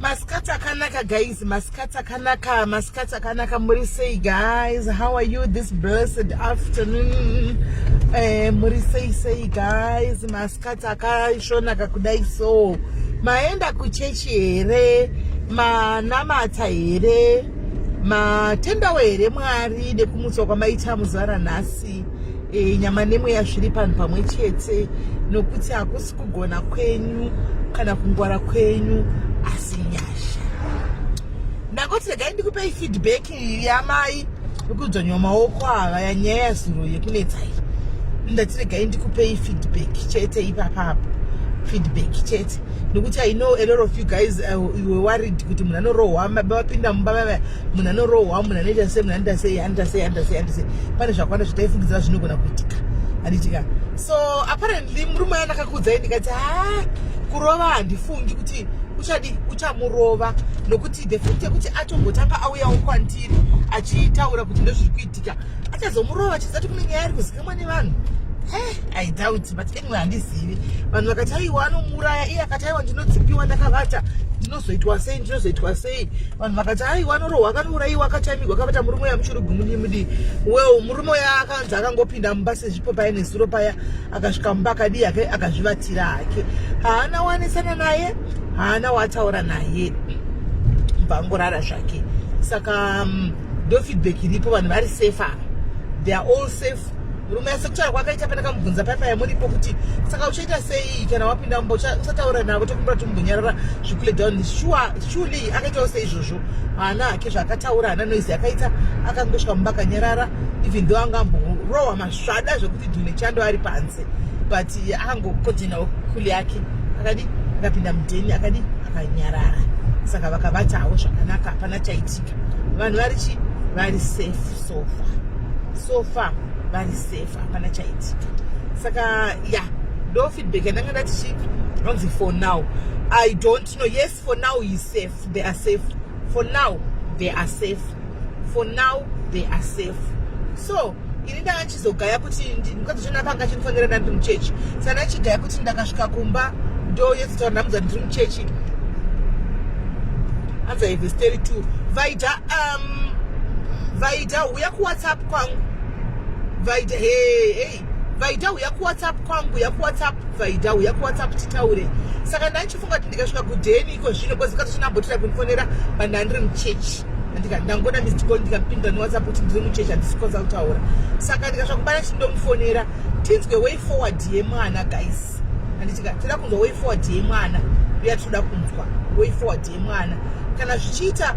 masikati akanaka guys masikati akanaka masikati akanaka muri sei guys how are you this blessed afternoon eh, muri sei sei guys Mas Katsi akaisvonaka kudai so maenda kuchechi here manamata here matendawo here mwari nekumutswa kwamaita muzuva ranhasi e, nyama nemweya zviri panhu pamwe chete nokuti hakusi kugona kwenyu kana kungwara kwenyu asi nyasha ndakoti regai ndikupei feedback iyi yamai vekudzvanywa maoko ava yanyaya yazuro yekunetsa iyi ndatiregai ndikupei feedback chete ipapapo feedback chete nekuti i know a lot of you guys uh, you were worried kuti munhu anorohwa vapinda mumba vava munhu anorohwa munhu anoita sei munhu anoita sei anoita sei anoita sei anoita sei pane zvakawanda zvitaifungidzira zvinogona kuitika anditika so apparently murume aya ndakakuudzai ndikati ha kurova handifungi kuti uchadi uchamurova nokuti the fact yekuti atombotanga auyawo kwandiri achitaura kuti ndozviri kuitika achazomurova chizati kune nyaya ari kuzikamwa nevanhu eh, i doubt but anyway handizivi vanhu vakati aiwa anomuuraya iye akati aiwa ndinodzipiwa ndakavata ndinozoitwa sei ndinozoitwa sei vanhu vakati aiwa anorohwa akanouraiwa akatamigwa akavata murume uya muchurugumudimudi well murume uya akanzi akangopinda mumba sezvipo paya nezuro paya akasvika mumba akadii akazvivatira hake haana wanisana naye haana wataura naye bvangorara zvake saka mm, ndo feedback iripo vanhu vari safe ava they are all safe murume asekutaura kwakaita pandakamubvunza paya paya muripo kuti saka uchaita sei kana wapinda mumba usataura navo tokumbira tombonyarara zvikule down sure surely akaitawo seizvozvo haana hake zvaakataura haana noise akaita akangosvika mumba akanyarara even though anga amborowa Zvada zvekuti Dune Chando ari panze but akangokodhenawo kuli yake akadi akapinda mudheni akadi akanyarara saka vakabatawo zvakanaka hapana chaitika vanhu vari chi vari safe sofa sofa vari safe hapana chaitika saka ya yeah, ndo feedback yandanga ndatichi anzi for now i don't know yes for now he safe they are safe for now they are safe for now they are safe so ini ndanga ndichizogaya kuti mukadzi chona panga chinofanira nda ndiri muchechi saka ndachigaya kuti ndakasvika kumba ndoyetsotaura ndamudza ndiri muchechi hanzi aive story two vaida um vaida huya kuwhatsapp kwangu vaida hey, hey. vaida huya kuwhatsapp kwangu huya kuwhatsapp vaida huya kuwhatsapp titaure saka ndachi funga kuti ndikasvika kudheni iko zvino kozi kazosvina ambotira kundifonera pandanga ndiri muchechi ndikati ndangona missed call ndikapinda newhatsapp kuti ndiri muchechi handisi kwanza kutaura saka ndikasvika kubana chindomufonera tinzwe way forward yemwana guys handitika toda kunzwa way forward yemwana uya tinoda kunzwa way forward yemwana kana zvichiita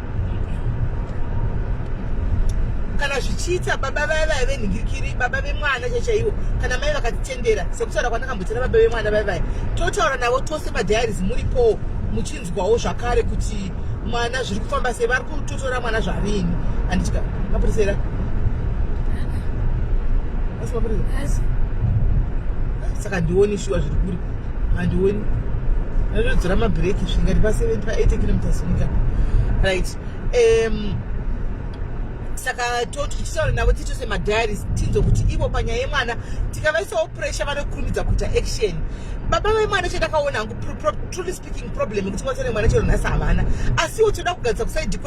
kana zvichiita baba vaya vaya venhingirikiri baba vemwana chachaiwo kana mai vakatitendera sekutaura kwandaka Tira baba vemwana vai vai totaura navo tose padiaries muripo muchinzwawo zvakare kuti mwana zviri kufamba sei vari kutotora mwana zvarini anditya mapurisa era asi mapurisa saka ndioni shuwa zviri kuri handioni anotodzora mabreaki zvingati pa 7 pa 8 kilometres nyika right um, saka toti tichitaura navo tiito semadiaries tinzwe kuti ivo panyaya yemwana tikavaisawo pressure vanokurumidza kuita action baba vemwana chandakaona hangu truly speaking problem yekuti mwasa nemwana chero nhasi havana asiwo toda kugadzisa kusaidi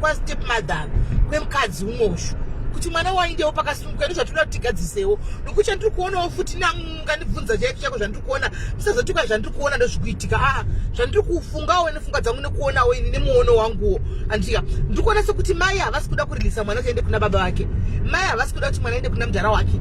kwastep mother kwemukadzi umoshu kuti mwana waindewo pakasunguka nezvatoda kuti tigadzisewo nokuti chandiri kuonawo futi na mukandibvunza chaiko chaiko zvandiri kuona musazotuka zvandiri kuona ndozvikuitika aa ah, zvandiri kufungawo ine pfungwa dzangu nekuonawo ini nemuono wanguwo andika ndiri kuona sekuti mai havasi kuda kurilisa mwana kuende kuna baba vake mai havasi kuda kuti mwana aende kuna mudhara wake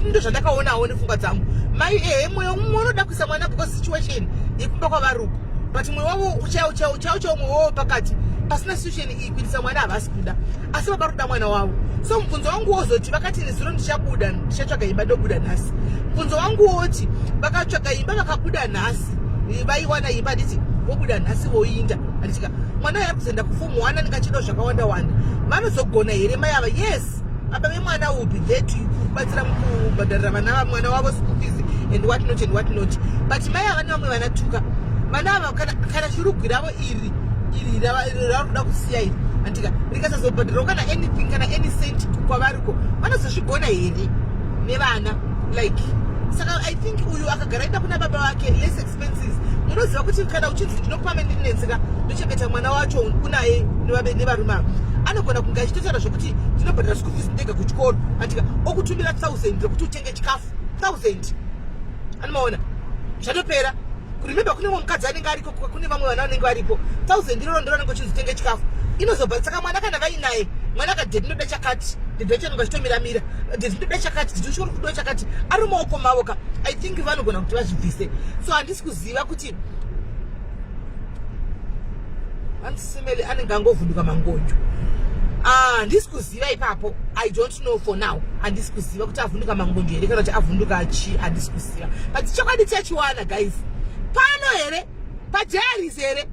ndo zvandakaonawo nepfungwa dzangu mai ehe mwoyo umwe unoda kuisa mwana because situation yekumba kwavari uko but mwoyo wavo uchauchauchauchao mwoyo wavo pakati pasina situation kuitisa mwana havasi kuda asi baba kuda mwana wavo so mubvunzo wangu wozoti vakati nezuro ndichabuda ndichatsvaga imba ndobuda nhasi mubvunzo wangu woti vakatsvaga imba vakabuda nhasi vaiwana imba handiti vobuda nhasi voinda handitika mwana yava kuzoenda kufomu one anenge achido zvakawanda wanda vanozogona here mai ava yes apa vemwana will be there to kubatsira mukubhadharira vana vamwana wavo school fees and what not and what not but mai ava nevamwe vanatuka vana ava kana chirugwiravo iri iri rakuda kusiya iri andika rikasazobhadhirawo kana anything kana any cent kwavariko vanozozvigona here nevana like saka i think uyu akagara enda kuna baba vake less expenses munoziva kuti kana uchinzi ndinokupa mendinetseka ndochengeta mwana wacho unaye nevarume ava anogona kunge achitotaura zvekuti ndinobhadhira school fees ndega kuchikoro andika okutumira thousand rekuti utenge chikafu thousand anomaona zvatopera kurememba kune mwe mukadzi anenge ariko kune vamwe vana vanenge varipo thousand iroro ndiro anenge uchinzi tenge chikafu inozobva saka mwana kana vainaye mwana akadhe ndinoda chakati ndidochanonga chitomiramira ndinoda chakati ndidochikori kudiwa chakati ari maoko mavo ka i think vanogona kuti vazvibvise so handisi kuziva kuti andisemele anenge angovhunduka mangonyo ah, handisi kuziva kuziva ipapo i don't know for now handisi kuziva kuti avhunduka mangonjo here kana kuti avhunduka chi handisi kuziva but chokwadi chachiwana guys pano here padiaris here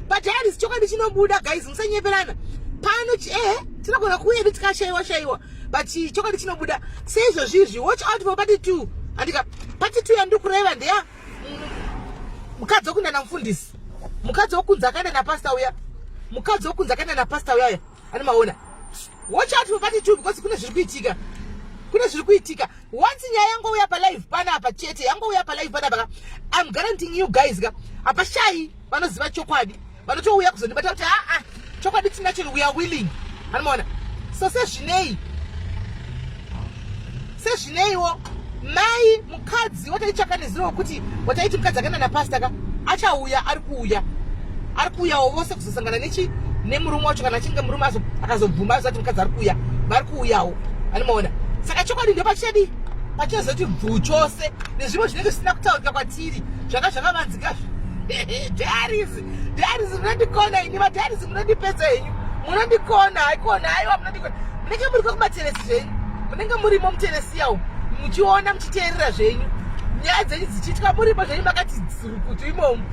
padiaris chokwadi chinobuda guys musanyeperana pano ehe tinogona kuuya titikashaiwa shaiwa but chokwadi chinobuda seizvozvizvi watch out for party two andika party two yandiri kureva ndeya mukadzi wokunana mufundisi mukadzi wokunzi akadana pasta uya mukadzi wokunzi akadana pasta uya uya Ani maona. Watch out for party two because kuna zviri kuitika. Kuna zviri kuitika. Once nyaya yangu uya pa live pana apa chete. Yangu uya pa live pana apa. I'm guaranteeing you guys ka. Apa shayi vanoziva chokwadi. Vanotouya kuzondibata kuti ah ah chokwadi tinacho we are willing. Ani maona. So sezvinei sezvineiwo mai mukadzi wataitsvaka neziro wekuti wataiti mukadzi akaenda napasta ka achauya ari kuuya ari kuuyawo vose kuzosangana nechi nemurume wacho kana achinge murume akazobvuma azati mukadzi ari kuuya vari kuuyawo anomaona saka chokwadi ndo pachadi pachazoti bvu chose nezvimwe zvinenge zvisina kutaurika kwatiri zvanga zvakavanzika zvi Diaries munondikona ini madiaries munondipedza henyu munondikona haikona haiwa munondikona munenge muri kwekumateresi zvenyu munenge murimo muteresiya umu muchiona muchiteerera zvenyu nyaya dzenyu dzichiitwa murimo zvenyu makati rukutu imomu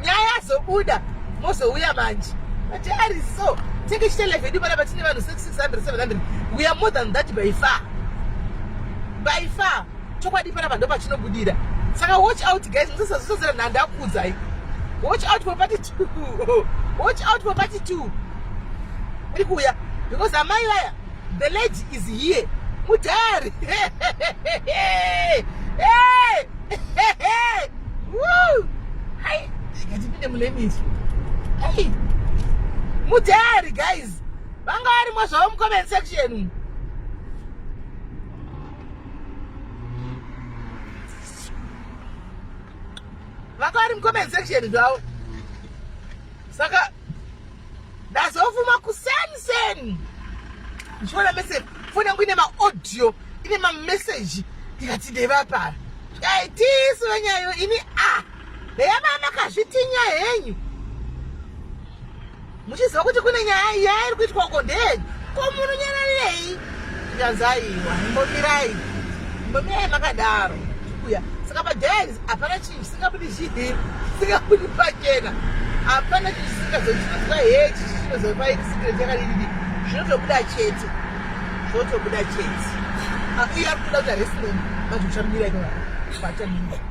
nyaya yazobuda mozouya manje madiaries so tenge chita live yedu panapa tine vanhu 600 700 we are more than that by far by far chokwadi panapa ndo pachinobudira saka watch out guys musasazosazira nhanda akuudzai watch out for party two watch out for party two iri kuuya because amai vaya the lady is here mudhari ngatipinde mulemisi mudhari guys vanga varimo zvavo mucomment section vakari mucomment section zvavo saka ndazofuma kuseni seni ndichiona message foni yangu ine maaudio ine mameseji ndikati ndevapara aitisu venyayo ini a ah, heya mamakazvitinya henyu muchiziva kuti kune nyaya iya iri kuitwa uko ndeyenyu ko munonyararirei zvikanzi aiwa imbomirai imbomirai makadaro uya saka padens hapana chinhu chisingabudi chii singabudi pachena hapana chinhu chisingazochiitika hechi chinozopaiti sikire chakadididi zvinotobuda chete zvotobuda chete ah, iye ari kuda kuti harisinomi manje uchamira ipatamii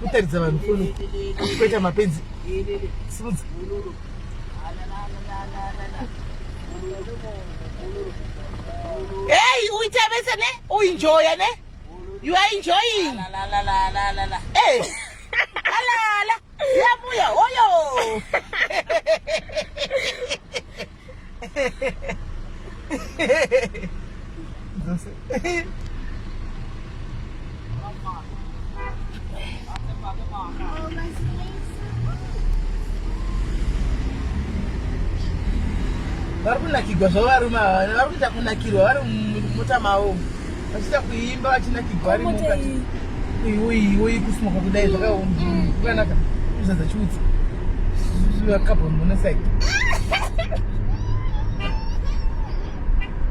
kutaridza vanhu foni kuita mapenzi simudza Hey, uitabesa ne? Uenjoy ne? You are enjoying. La la la la la la. Hey. Eh. la la la. Yabuya hoyo. vari kunakirwa zvavo varume ava vari kuita kunakirwa vari mumota mavo Vachita kuimba vachina kigwari mukati. Uyu uyu uyu kusmoka kudai zvakaoma. Kukanaka kuzadza chiutsi. Zviwa carbon monoxide.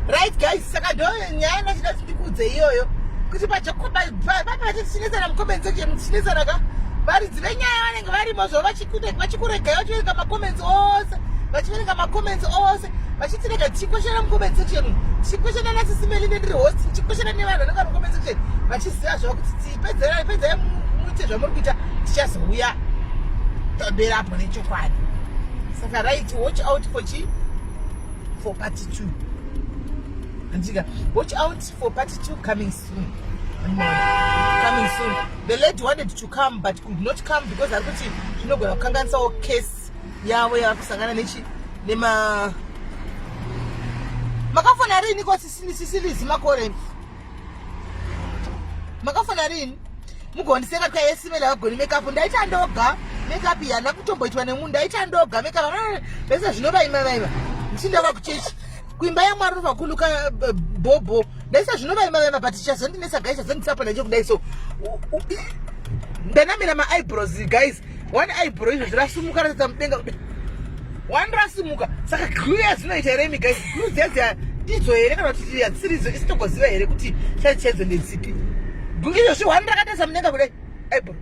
Right guys, saka ndo nyaya ndachida ndikudze iyoyo. Kuti pajakoba papa vachinetsana mukomeni section muchinetsana ka varidzi venyaya vanenge varimo zvo vachikuregai vachiverenga macomments ose vachiverenga macomments ose vachitirega tichikweshana mucomment section tichikweshana nasisimeli nendiri host tichikweshana nevanhu vanenge vari mucomment section vachiziva zvava kuti tipedzera pedzera muite zvamuri kuita tichazouya tabera apo nechokwadi saka right watch out for chi for party two andika watch out for party two coming coming soon the lady wanted to come but could not come because ari kuti zvinogona kukanganisawo case yavo yava kusangana nechi nema makafona rini ko sisilizi makore makafona rini mugondiseka ka yesimela vagoni makeup ndaita ndoga makeup yana kutomboitwa nemunhu ndaita ndoga makeup vese zvinovaima vaiva ndichindava kuchechi kuimba yamwari novakuluka eh, bhobho ndaisa zvinovaimba vema but chazondinesa guys chazondisapa nacho kudai so ndanamira maibrows guys one ibrow izvo zvirasumuka ratadza mudenga kudai one rasimuka saka glu yazinoita here imi guys glu dziya ndidzo here kana kuti hadzisiridzo isitogoziva here kuti chaicho chaidzo ndedzipi glu izvo zvi one rakatarisa mudenga kudai aibro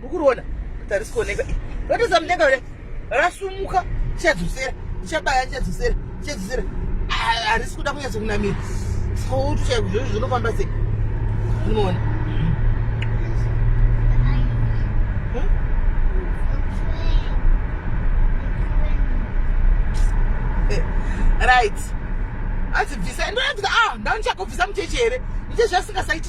mukuriona tarisikuoneka ratoza mudenga ure rasumuka chadzosera chabaya chadzosera chadzosera harisi kuda kunyatso kunamira sautu chaiko zvozvo zvinofamba sei unoona eh, right adzibvisa ndoyabvisa ah ndanichakobvisa mucheche here ndichezvasingasaiti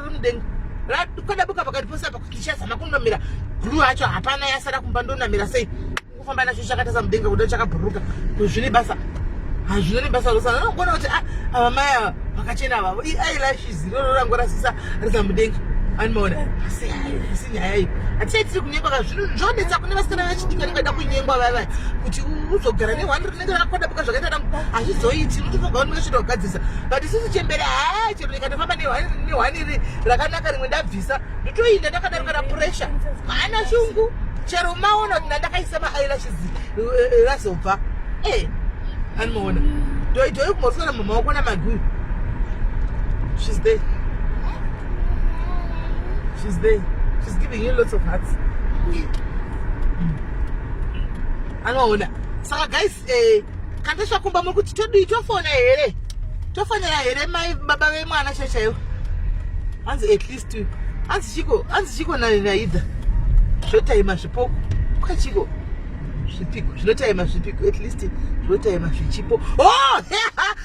mudenga kwadabuka pakati pose apa kuti ichazama kunamira glu hacho hapana yasara kumba ndonamira sei kufamba nacho chakatasa mudenga kuda chakabhuruka kuti zvine basa hazvino nebasa rose anogona kuti ah, ava mai ava vakachena avavo iailashes iroro rangorasisa risa mudenga anomaona asi hayo asi nyaya iyo hatichai tiri kunyengwa kazvino zvonetsa kune vasikana vachidika nevada kunyengwa vava kuti uzogara ne akakodabuka zvakaita nangu hazvizoiti unotofoga unenge chito kugadzirisa but sisi chembere haa chero ndikatofamba nehwani iri rakanaka rimwe ndabvisa ndotoinda ndakadaro kana pressure haana shungu chero umaona kuti ndandakaisa maeyelashes razobva eh, eh, anoona ndoitoi kumosora mumaoko namaguyu she's there she's there she's giving you lots of hearts anoona saka guys eh, kandesva kumba muri kuti todii tofona here tofonera here mai baba vemwana chaivo chaivo hanzi at least hanzi chiko hanzi chiko naida zvotaima zvipoko kwachiko zvipiko zvinotaima zvipiko at least zvotaima zvichipo oh,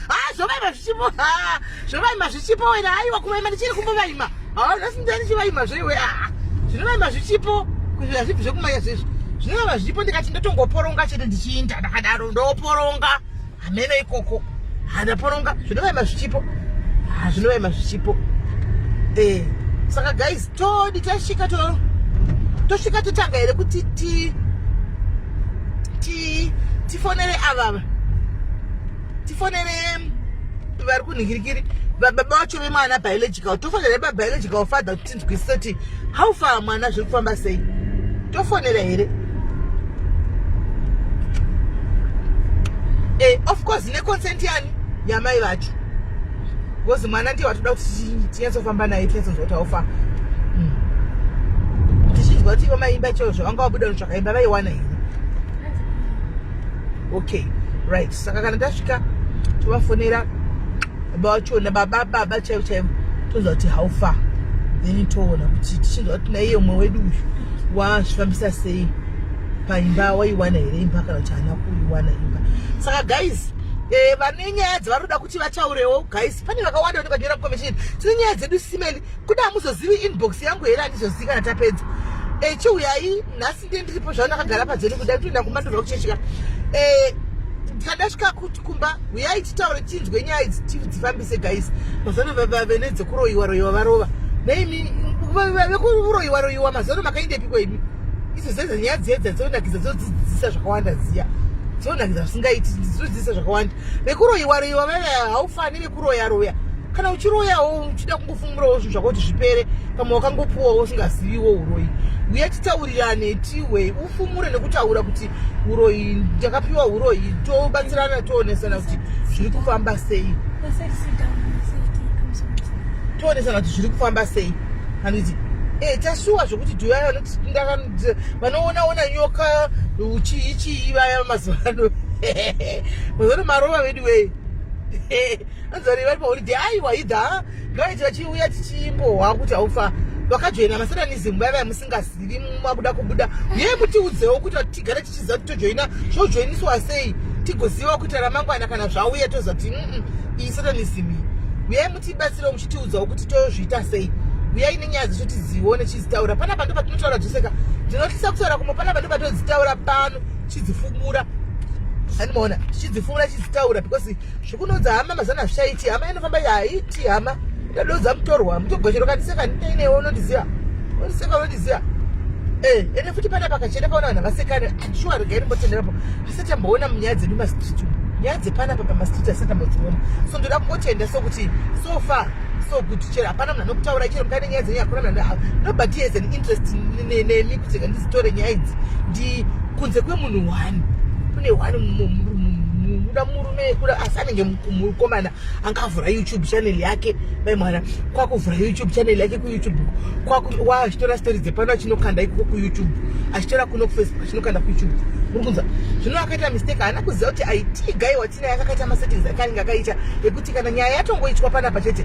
ha zvovaima zvichipo ha Zvovaima zvichipo wena haiwa kuvaima ndichiri kumbovaima. Hauna sinda ndichivaima zveiwe ah. Zvinovaima zvichipo kuzvira zvipi zvekumanya zvezvi. Zvinovaima zvichipo ndikati ndotongoporonga chete ndichiinda ndakadaro ndoporonga. Hameno ikoko. Hana poronga zvinovaima zvichipo. Ah zvinovaima zvichipo. Eh saka guys todi tasvika to tosvika totanga here kuti ti ti tifonere avava tifonere vari kunhikirikiri baba vacho vemwana biological tofonera babiological father kuti tinzwisise kuti how far mwana zviri kufamba sei tofonera here e of course neconsent yani yamai vacho because mwana ndiye watoda kuti tinyatsofamba naye tinyatsoziva kuti haufa hmm. tichinzwa kuti ivo maimba choo zvavangawabuda nozvakaimba vaiwana here okay right saka kana tasvika tovafonera baba vachona baba baba chaivo chaivo toziva kuti how far then toona kuti tichiziva kuti naiye umwe wedu uyu wazvifambisa sei paimba waiwana here imba kana kuti haana kuiwana imba saka guys Eh, vane nyaya dzavari kuda kuti vataurewo guys pane vakawanda kuti vagera mukomishini tine nyaya dzedu simeni kuda hamuzozivi inbox yangu here handizozivi kana tapedza echiuyai eh, nhasi ndiye ndiripo zvana akagara padzeri kuda kutoenda kumba ndova kuchechika eh, ndikadasvika kuti kumba huyai titaure tinzwe nyaya idzi tidzifambise guys mazano vave nedzekuroyiwa royiwa varova naimi vekuroyiwa royiwa mazano makaindepiko imi idzo zedza nyaya dziya dzadzonakidza dzodzidzisa zvakawanda dziya dzonakidza zvisingaiti dzodzidzisa zvakawanda vekuroyiwa royiwa vave haufanire kuroya roya kana uchiroyawo uchida kungofumurawo zvinhu zvako kuti zvipere pamwe wakangopuwawo usingaziviwo uroyi uye titaurirane tiwe ufumure nekutaura kuti uroyi ndakapiwa uroyi tobatsirana toonesana kuti zviri kufamba sei toonesana kuti zviri kufamba sei handiti e tashuwa zvekuti duyaya vanoona ona nyoka chii chii vaya mazuva ano mazuva ano marova vedu wei anzari vari paholiday aiwa idha ngaiti vachiuya tichimbohwa kuti haufa vakajoina masatanism vaiva musingazivi makuda kubuda yei mutiudzewo kuti tigare tichiziva kuti tojoina zvojoiniswa sei tigoziva kuita ramangwana kana zvauya tozati mm, iyi satanism iyi uyai mutibatsirewo muchitiudzawo kuti tozviita sei uyai nenyaya dzecho tizione tichizitaura panapa ndo patinotaura dzoseka ndinotyisa kutaura kumwe panapa ndo patodzitaura pano chidzifumura andimaona chidzifumura chidzitaura because zvikunodza hama mazana hazvichaiti hama inofamba yaiti hama ndadodza mutorwa mutogochero kandiseka ndineinewe unondiziva unondiseka unondiziva eh, ende futi pana pakachena paona vanhu vasekane shuwa rega irimbotenderapo asati amboona munyaya dzedu mastreet nyaya dzepanapa pamastreet asati ambodziona so ndoda kungotenda sokuti so far so good chero hapana munhu anokutaura chero mukane nyaya dzenyu hakuna munhu nobody has an interest nemi kuti ndizitore nyaya idzi ndi kunze kwemunhu one kune one muda murume yekuda asi anenge mukomana angavhura youtube channel yake mai mwana kwakuvhura youtube channel yake kuyoutube achitora story dzepano achinokanda ikoko kuyoutube achitora kuno kufacebook achinokanda kuyoutube muri kunzwa zvino akaita mistake haana kuziva kuti aitigai watinaye akakaita masettings ake anenge akaita ekuti kana nyaya yatongoitwa panapa chete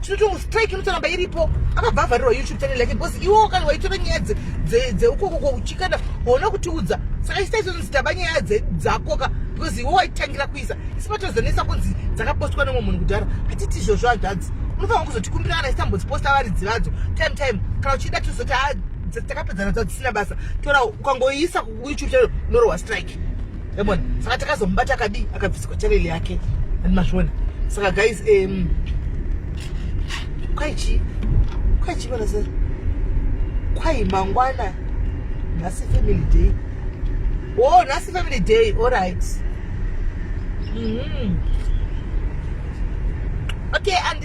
Chinoto mustrike inotoramba iripo akabva avharirwa youtube channel yake because iwo kana waitora nyaya dzeukokoko uchikana waona kutiudza saka isita izvozvo zitaba nyaya dzakoka because iwo waitangira kuisa isi patozonesa kunzi dzakapostwa nomwe munhu kudhara hatiti izvozvo hanzvadzi unofanira kuzotikumbira kana isita mbodziposta varidzi vadzo time time kana uchida tozoti ah, takapedzana dzadzisina basa tora ukangoiisa kuyoutube channel unorohwa strike yabona saka takazomubata akadii akabviswa chareli yake and mazviona saka guys um, kwaichi kwaichi vana se kwai mangwana nhasi family day o oh, nhasi family day all right mm -hmm. okay and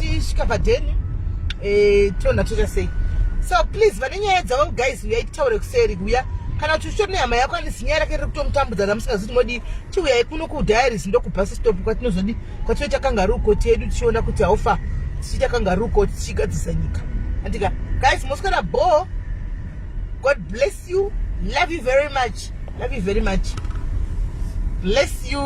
tisvika padheni eh, tona toita sei so please vane nyaya dzavo guys uyai titaure kuseri kuya kana kuti uchitori nehama yako ane zinyaya rake riri kutomutambudza ramusingaziti modi tiuyai kuno kudiaries ndokubhasi stop kwatinozodi kwatinoita kangaruu koti yedu tichiona kuti haufa tichiita kangaruu koti tichigadzisa nyika andika guys moswera bho god bless you love you very much love you very much bless you